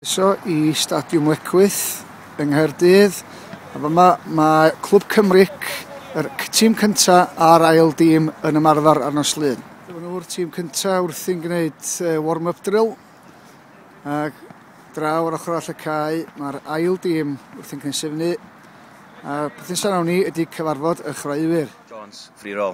Croeso i Stadiwm Lecwyth yng Nghaerdydd. A fama mae Clwb Cymric, yr tîm cyntaf a'r ail dîm yn ymarfer ar nos Lun. Dyma nhw'r tîm cyntaf wrthi'n gwneud warm-up drill. Ac draw ar ochr all y cae, mae'r ail dîm wrthi'n cynsyfnu. A'r peth nesaf nawn ni ydy cyfarfod y chwaraewyr. Jones, free roll.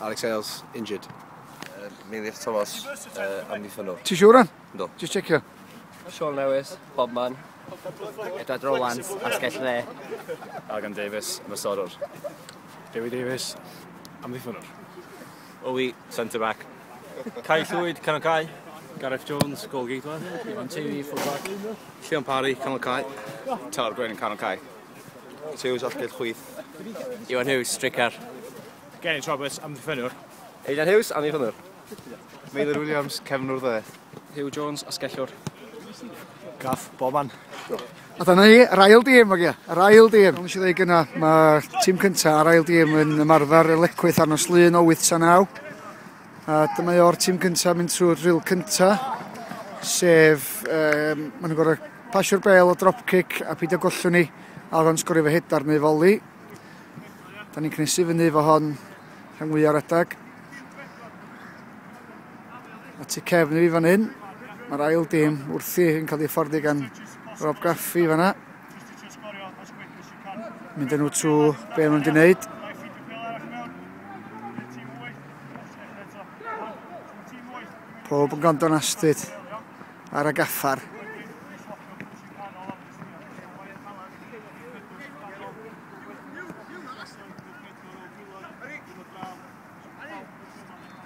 Alex Hales, injured. Uh, Meiliwch Thomas, uh, amddiffynnwr. Ti siwr on? Do. Just checio. Sean Lewis, Bobman. Edward Rowlands, asgell dde. Agan Davis, ymysodwr. Dewi Davis, amddiffynnwr. Owi, centre back. Cai Llwyd, canol cai. Gareth Jones, goal gateman. Iwan Teiri, full back. Sion Parry, canol cai. Tawr Gwyn, canol cai. Rhys Hughes, alltud chwith. Iwan Hughes, stricar. Geraint Roberts, amddiffynwr. Eidan Hughes, amddiffynwr. Meilir Williams, cefnwr ddeth. Hugh Jones, asgellwr. Gaff, boman. A dyna ni, yr ail dîm, ogia, yr ail dîm. Ond eisiau dweud gyna, mae tîm cyntaf a'r ail dîm yn ymarfer y lecwyth arno slun o 8 a 9. A dyma i o'r tîm gyntaf mynd trwy'r ril cyntaf, sef, um, maen nhw'n gorau pasio'r bel o dropkick a peidio gollwn ni a oedd o'n sgorio fy hedar neu foli. Da ni'n cnesu fyny fo hon rhan fwy o'r adag. A tu cefn i fi fan hyn, mae'r ail dim wrthi yn cael ei fforddi gan Rob Gaffi fanna. Mynd yn nhw trwy be maen nhw wedi wneud. Pob yn gondon astud ar y gaffar.